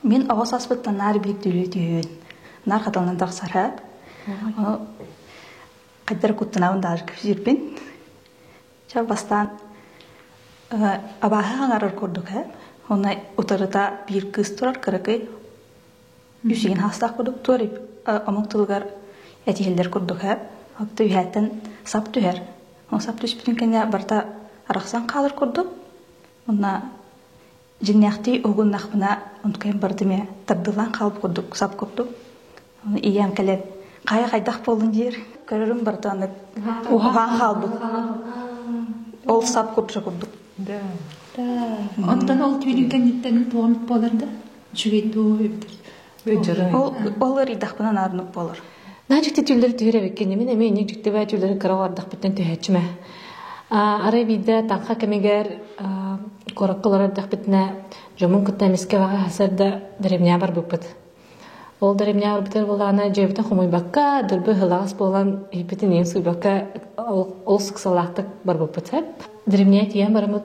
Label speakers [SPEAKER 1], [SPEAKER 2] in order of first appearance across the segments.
[SPEAKER 1] Мин оҕо саспыттан наар биир түлүү түһүөн, наар хатыланан тахсара. Ону хайдары куттанаабын даҕаны кэпсиирбин. Чэ, бастаан абааһы хаҥарар курдук ээ. Онно утарыта биир кыыс турар кыракый, үсүгүн хаастаах курдук туоруй омук тылыгар этиһиллэр курдук ээ. Оттон үһээттэн сап түһэр. Ол сап түспүтүн кэннэ барыта арахсан хаалар курдук. Онно Дьиҥнээхтии уһугуннахпына онкуйан бардым ээ тардылаан хаалбыт курдук сап курдук оны ийэм кэлэн хаайа хайдах буоллун диир көрөрүм бардаҕына уһаҕаан хаалбыт ол сап курдук курдук да
[SPEAKER 2] онтон ол түүнүн кэнниттэн туомут буолар да үчүгэй дуу Ол
[SPEAKER 1] ыарыйдахпына наадыннык буолар. Наадьыт дьүүллэр
[SPEAKER 3] түһэр эбиккин, мин эмиэ инник дьиктибэ дьүүллэрин кыра бардахпыттан түһээччимэ. Арай биирдэ таҥха кэмигэр куоракка олорор дьахпытына дьомун кытта эмискэ баҕа сар да дэримнэҕэ барбыппыт. Ол дэримнэҕэ барбытар буолаана дьиэбитин хомуйбакка, дурбы ыһылаҕас буолан иһиппитин иин сууйбакка ол ыксалаахтык барбыппыт. Дэримнэҕэ тиийэн бараммыт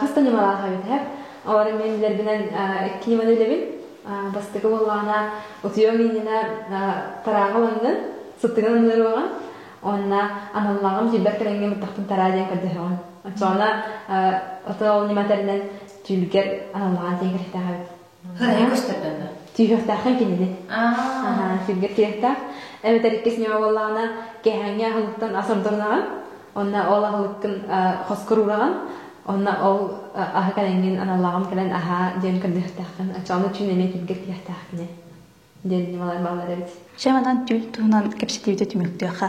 [SPEAKER 4] Хас да ньымалаах эбитэ. Олорон мен билэрбинэн икки ньыманы билебин. Бастакы боллаана утуйуоң иннинэ тарааҕа уланнын, сыттыгын анныруоҕа. Онна аналлааҕым сүйбэр кэлэҥҥэ мыттахпын тараа диэн көрдөһөҕүн. Оччоҕуна ото ол ньыма тэринэн түүлгэр аналлааҕын диэн кэриэтэҕэбит. Кыраһай көстөрдөннө.
[SPEAKER 2] Тииһиэхтээххин кинини.
[SPEAKER 4] Аа. Кингэ тиэхтээх. Эбэтэр иккис ньыма буоллаҕына, кэһээҥҥэ аһылыктан асамторнаҕын. Онно ол аһылыккын хоскоруураҕын. Онно ол аһы кэлэҥҥин аналлааҕым кэлэн аһаа диэн көрдүөхтээххин. Оччоҕуна үчүн эмиэ кингэ тиэхтээх кини.
[SPEAKER 1] диэн
[SPEAKER 4] ньымалар бааллар
[SPEAKER 1] эбит. Чаҕынан
[SPEAKER 4] түүл туһунан кэпсэтиибитэ
[SPEAKER 1] түмүктүөххэ.